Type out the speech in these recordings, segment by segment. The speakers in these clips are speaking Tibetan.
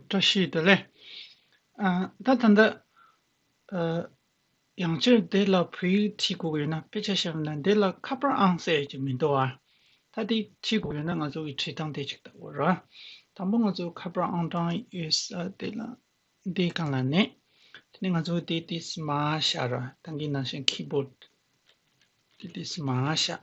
བཀྲ་ཤིས་བདེ་ལེགས། ད་ད་འདི། ཡང་བསྐྱར་འདི་ལ་བོད་ཡིག་ཕྱིས་གོ་ཡོད་ན་དཔེ་ཆ་ཤར་མེད་ན་འདི་ལ་ཁ་པར་ཨང་གསལ་ཡོད་ཀྱི་མི་འདུག་ཨ། ད་དེ་ཕྱིས་གོ་ཡོད་ན་ང་ཚོ་གི་བྲིས་ཐང་དེ་ཅིག་ལྟ་བུ་རེད། དང་པོ་ང་ཚོ་ཁ་པར་ཨང་གྲངས་ཡོད་ས་དེ་ལ་འདི་གང་ལ་གནས། དེ་ནས་ང་ཚོ་གི་དེ་དེ་སི་མ་ཤར། ཐང་གི་ནང་བཞིན keyboard། དེ་དེ་སི་མ་ཤར།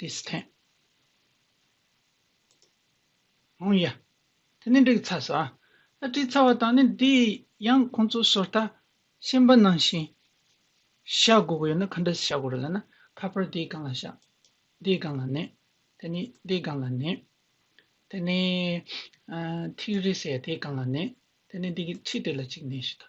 Distant ཨང་ཡ། དེ་ནི་འབྲི་གི་ཚ་ས། བྲིས་ཚར་བ་དང་ནི་འདི་ཡང་ཁོང་ཚོ་སོར་ཐ་ཤན་པ་ནང་བཞིན་བཞག་དགོས་ཀྱི་ཡོད་ན་ག་འདྲ་བཞག་དགོས་རེད་ལ་ན་ཁ་པར་འདིའི་སྒང་ལ་བཞག་འདིའི་སྒང་ལ་ནི་དེ་ནི་འདིའི་སྒང་ལ་ནི་དེ་ནི་ཐིག་རིས་ཡ་དེའི་སྒང་ལ་ནི་དེ་ནི་འདི་གི་ཁྲི་དེ་ལ་གཅིག་ནི་ཞེས་དང།